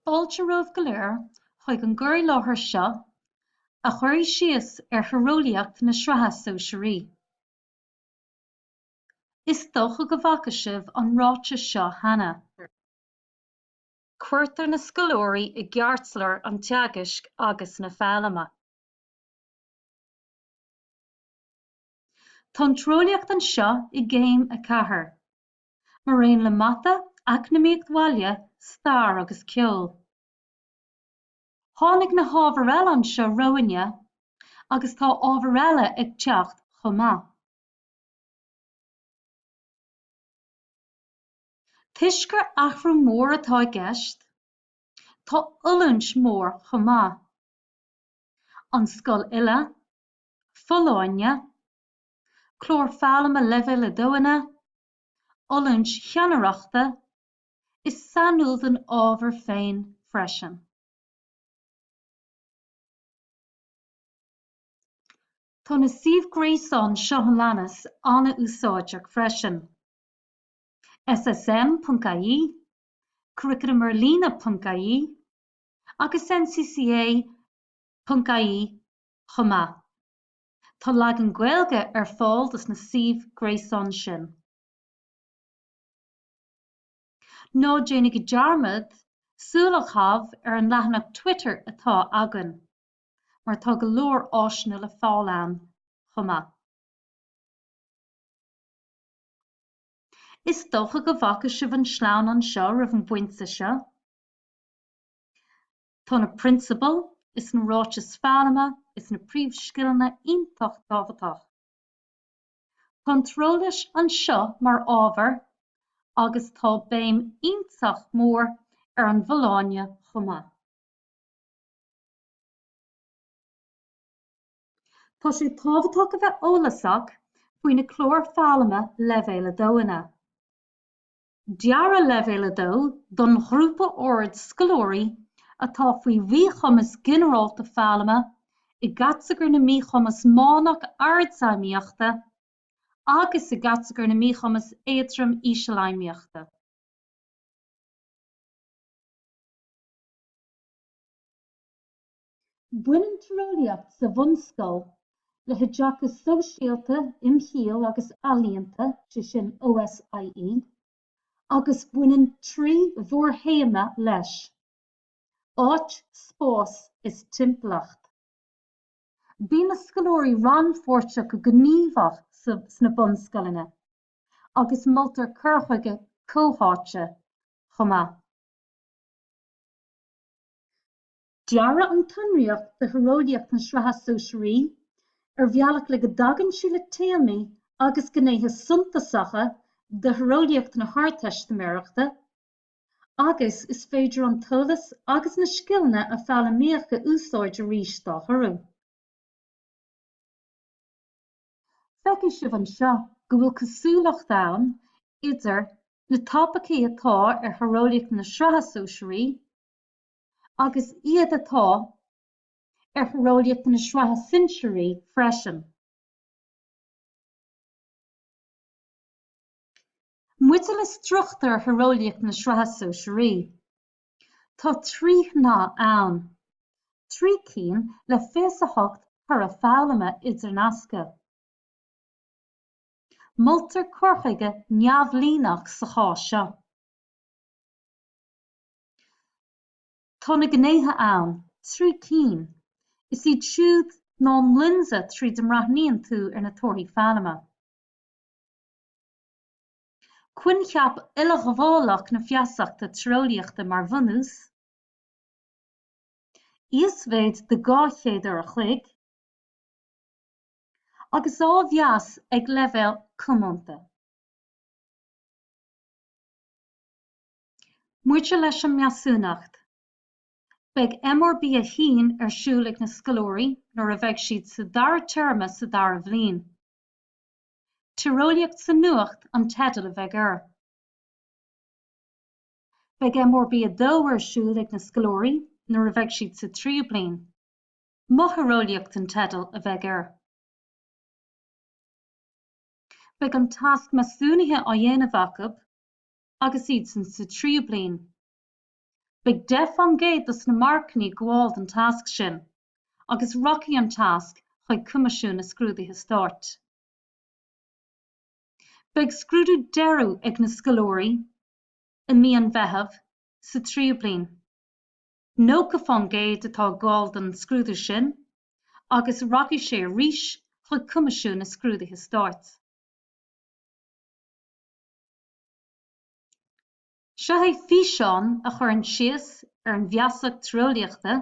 Fáilte romhaibh go léir chuig an gcur i láthair seo a chuirfidh síos ar Thíreolaíocht na Sraithe Sóisearaí. Is dócha go bhfaca sibh an ráiteas seo cheana. Cuirtear na scoláirí i gceartlár an teagaisc agus na foghlama. Tá an Tíreolaíocht anseo i gCéim 4. mar aon le mata, eacnamaíocht bhaile, stair agus ceol. Tháinig na hábhair eile anseo romhainne agus tá ábhair eile ag teacht chomh maith. Toisc gur athrú mór atá i gceist, tá oiliúint mór chomh maith, an scoil uile, folláine, clár foghlama Leibhéal 2-anna, oiliúint cheannaireachta, is sainiúil don ábhar féin freisin. Tá na suímh gréasáin seo a leanas an-úsáideach freisin, SSM.ie, CurriculumArLíne.ie agus NCCA.ie chomh maith. Tá leagan Gaeilge ar fáil dos na suímh gréasáin sin. Ná déanaigí dearmad súil a chaitheamh ar an leathanach Twitter atá againn, mar tá go leor áiseanna le fáil ann chomh maith. Is dócha go bhfaca sibh an sleamhnán seo roimh an bpointe seo. Tá na prionsabail is na ráitis foghlama is na príomhscileanna iontach tábhachtach. Tá an Tíreolas anseo mar ábhar agus tá béim iontach mór ar an bhfolláine chomh maith. Tá sé tábhachtach a bheith eolasach faoi na cláir foghlama Leibhéal 2-anna. Dearadh Leibhéal 2 don ghrúpa áirithe scoláirí atá faoi mhíchumas ginearálta foghlama i gcatagóir na míchumas meánach ardfheidhmíochta agus i gcatagóir na míchumas éadrom ísealfheidhmíochta. Baineann Tíreolaíocht sa bhunscoil le hOideachas Sóisialta, Imshaoil agus Ealaíonta, sé sin OSIE, agus baineann trí mhórthéama leis, Áit, Spás is Timpeallacht. Bíonn na scoláirí rannpháirteach go gníomhach sna bunscoileanna agus moltar cur chuige comhtháite chomh maith. Dearadh an tsonraíocht do thíreolaíocht na Sraithe Sóisearaí ar bhealach le go dtagann sí le téamaí agus gnéithe suntasacha de thíreolaíocht na hArdteistiméireachta agus is féidir an t-eolas agus na scileanna a foghlaimíodh a úsáid arís dá thoradh. Feicfidh sibh anseo go bhfuil cosúlacht ann idir na topaicí atá ar thíreolaíocht na Sraithe Sóisearaí, agus iad atá ar thíreolaíocht na sraithe sinsearaí freisin. Maidir le struchtúr thíreolaíocht na sraithe sóisearaí, tá trí shnáithe ann, trí cinn le fiche a hocht toradh foghlama idirnasctha. Moltar cur chuige neamhlíneach sa chás seo. Tá na gnéithe ann, trí cinn. Is iad siúd ná an lionsa tríd a mbreathnaíonn tú ar na torthaí foghlama, coincheap uileghabhálach na feasachta tíreolaíochta mar bhunús, íosmhéid de dhá chéad uair an chloig, agus á mheas ag leibhéal comónta. Maidir leis an measúnacht, beidh MRB1 ar siúl ag na scoláirí nuair a bheidh siad sa dara téarma sa dara bhliain. Tíreolaíocht sa Nuacht an teideal a bheidh air. Beidh MRB2 ar siúl ag na scoláirí nuair a bheidh siad sa tríú bliain. Mo Thíreolaíocht an teideal a bheidh air. Beidh an tasc measúnaithe á dhéanamh acu agus iadsan sa tríú bliain. Beidh deich faoin gcéad dos na marcanna ag gabháil don tasc sin agus rachaidh an tasc chuig Coimisiún na Scrúduithe Stáit. Beidh scrúdú deiridh ag na scoláirí i mí an Mheithimh sa tríú bliain. Nócha faoin gcéad atá ag gabháil don scrúdú sin agus rachaidh sé arís chuig Coimisiún na Scrúduithe Stáit. Seo é físeán a chuireann síos ar an bhfeasacht tíreolaíochta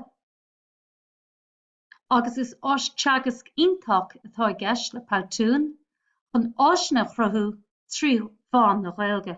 agus is áis teagaisc iontach atá i gceist le Powtoon chun áiseanna a chruthú trí mheán na Gaeilge.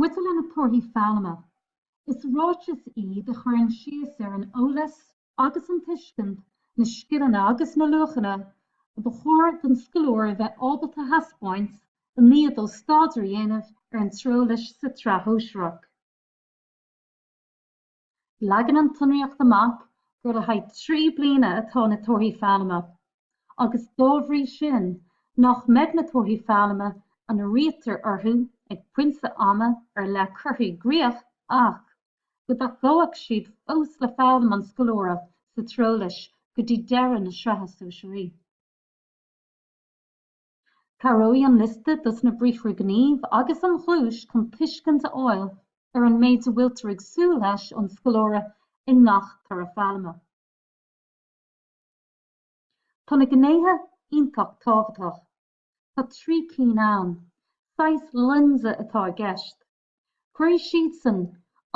Maidir le na torthaí foghlama, is ráiteas iad a chuireann síos ar an eolas agus an tuiscint, na scileanna agus na luachanna a ba chóir don scoláire a bheith ábalta a thaispeáint i ndiaidh dó staidéar a dhéanamh ar an tíreolas sa tsraith shóisearach. Leagann an tsonraíocht amach gur le haghaidh trí bliana atá na torthaí foghlama, agus dá bhrí sin nach mbeidh na torthaí foghlama a ndírítear orthu ag pointe ama ar leith curtha i gcrích ach go dtacóidh siad fós le foghlaim an scoláire sa tíreolas go dtí deireadh na sraithe sóisearaí. Cabhróidh an liosta dos na briathra gnímh agus an ghluais chun tuiscint a fháil ar an méid a bhfuiltear ag súil leis ón scoláire i ngach toradh foghlama. Tá na gnéithe iontach tábhachtach. Tá trí cinn ann. Saghas lionsa atá i gceist. Cuirfidh siadsan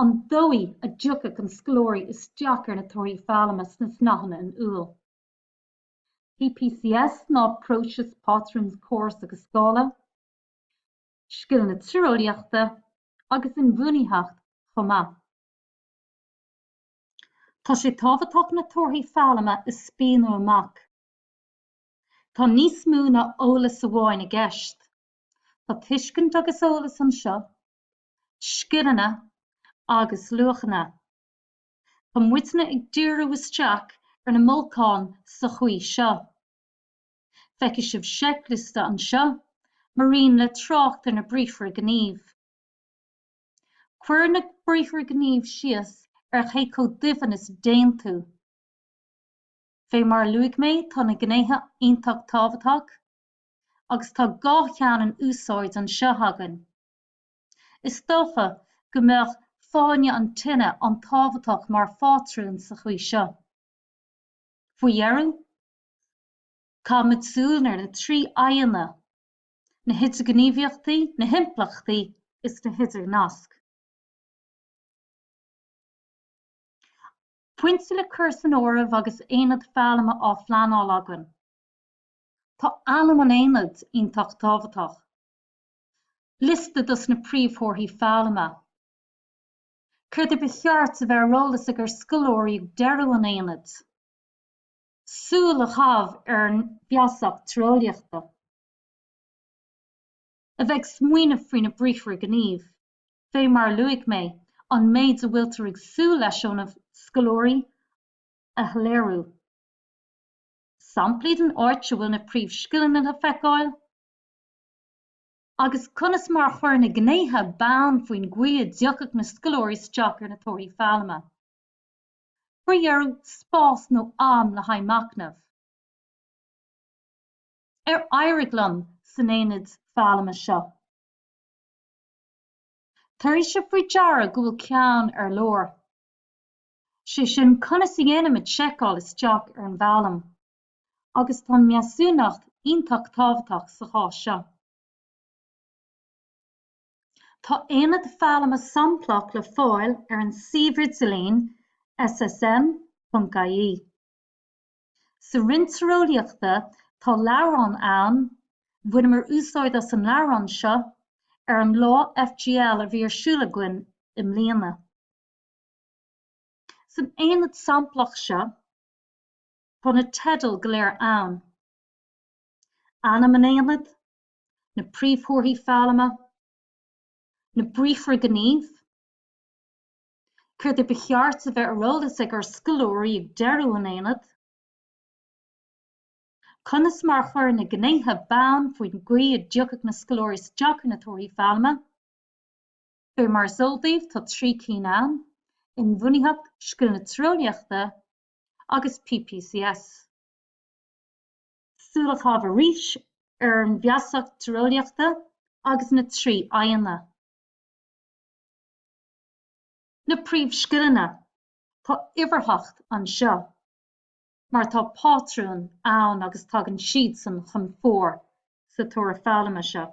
an dóigh a dtiocfaidh an scoláire isteach ar na torthaí foghlama sna snáitheanna in iúl. PPCS ná Próiseas, Pátrúin, Córas agus Scála, Scileanna Tíreolaíochta agus Inbhuanaitheacht chomh maith. Tá sé tábhachtach na torthaí foghlama a spíonadh amach. Tá níos mó ná eolas amháin i gceist. Tá tuiscint agus eolas anseo, scileanna agus luachanna. Tá muidne ag díriú isteach ar na mbolcáin sa chaoi seo. Feicfidh sibh seicliosta anseo, maraon le trácht ar na briathra gnímh. Cuireann na briathra gnímh síos ar cé chomh doimhin is a dtéann tú. Fé mar a luaigh mé tá na gnéithe iontach tábhachtach, agus tá dhá cheann in úsáid anseo againn. Is dócha go mbeadh fáinne an tine an-tábhachtach mar phátrún sa chaoi seo. Faoi dheireadh, caithimid súil ar na trí fhadhbanna, na hidirghníomhaíochtaí, na himpleachtaí is na hidirnasc. Pointe le cur san áireamh agus aonad foghlama á phleanáil againn, tá ainm an aonaid iontach tábhachtach. Liosta dos na príomhthorthaí foghlama. Céard ba cheart a bheith ar eolas ag ár scoláirí ag deireadh an aonaid? Súil a chaitheamh ar an bhfeasacht tíreolaíochta. A bheith ag smaoineamh faoi na briathra gnímh. Fé mar a luaigh mé, an méid a bhfuiltear ag súil leis óna scoláirí a shoiléiriú. Samplaí den áit a bhfuil na príomhscileanna le feiceáil. agus conas mar a chuir na gnéithe bonn faoin gcaoi a dtiocfadh na scoláirí isteach ar na torthaí foghlama. Faoi dheireadh, spás nó am le haghaidh machnaimh. Ar éirigh liom san aonad foghlama seo? Tabharfaidh sibh faoi deara go bhfuil ceann ar lár, sé sin conas a dhéanaimid seiceáil isteach ar an bhfoghlaim. agus tá measúnacht iontach tábhachtach sa chás seo. Tá aonad foghlama samplach le fáil ar an suíomh idirlín SSM.ie. Sa roinn Tíreolaíochta tá leabhrán ann, bhaineamar úsáid as an leabhrán seo ar an lá FGL a bhí ar siúl againn i mbliana. San aonad samplach seo. Tá na teidil go léir ann, ainm an aonaid, na príomhthorthaí foghlama, na briathra gnímh, céard ba cheart a bheith ar eolas ag ár scoláirí ag deireadh an aonaid, conas mar a chuir na gnéithe bonn faoin gcaoi a dtiocfadh na scoláirí isteach ar na torthaí foghlama. Fé mar is eol daoibh tá trí cinn ann, inbhuanaitheacht, scileanna tíreolaíochta agus PPCS. Súil a chaitheamh arís ar an bhfeasacht tíreolaíochta agus na trí faidhbeanna. Na príomhscileanna, Tá uimhearthacht anseo mar tá pátrúin ann agus tagann siadsan chun fóir sa toradh foghlama seo.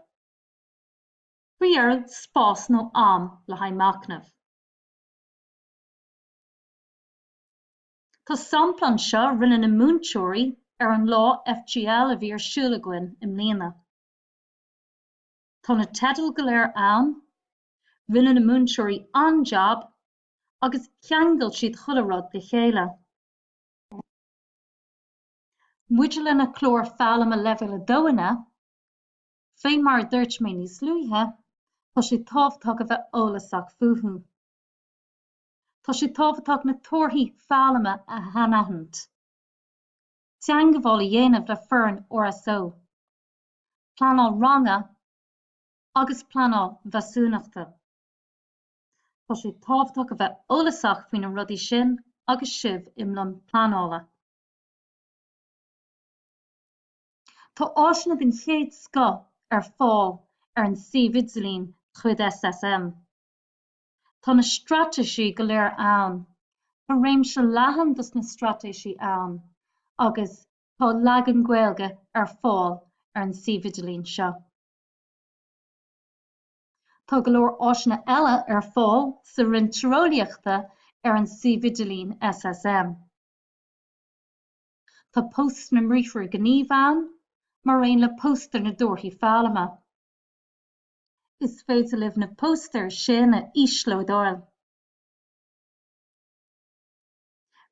Faoi dheireadh, spás nó am le haghaidh machnaimh. Tá sampla anseo a rinne na múinteoirí ar an lá FGL a bhí ar siúl againn i mbliana. Tá na teidil go léir ann, rinne na múinteoirí an-jab agus cheangail siad chuile rud le chéile. Maidir leis na cláir foghlama leibhéal 2 inniu, fé mar a dúirt mé níos luaithe, tá sé tábhachtach a bheith eolasach fúthu. tá sé tábhachtach na torthaí foghlama a shainaithint, teagmháil a dhéanamh le foireann RSO, pleanáil ranga agus pleanáil mheasúnachta. Tá sé tábhachtach a bheith eolasach faoi na rudaí sin agus sibh i mbun pleanála. Tá áiseanna den chéad scoth ar fáil ar an suíomh idirlín de chuid SSM. Tá na straitéisí go léir ann. Tá réimse leathan dos na straitéisí ann agus tá leagan Gaeilge ar fáil ar an suíomh idirlín seo. Tá go leor áiseanna eile ar fáil sa Roinn Tíreolaíochta ar an suíomh idirlín SSM. Tá póstaer na mbriathra gnímh ann, mar aon le póstaer na dtorthaí foghlama. Is féidir libh na póstaeir sin a íoslódáil.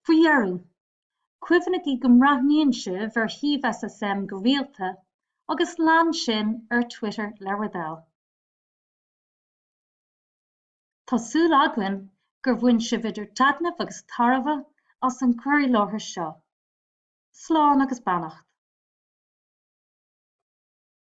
Faoi dheireadh, cuimhnigí go mbreathnaíonn sibh ar shuíomh SSM go rialta agus lean sinn ar Twitter le bhur dtoil. Tá súil againn gur bhain sibh idir taitneamh agus tairbhe as an gcur i láthair seo. Slán agus beannacht.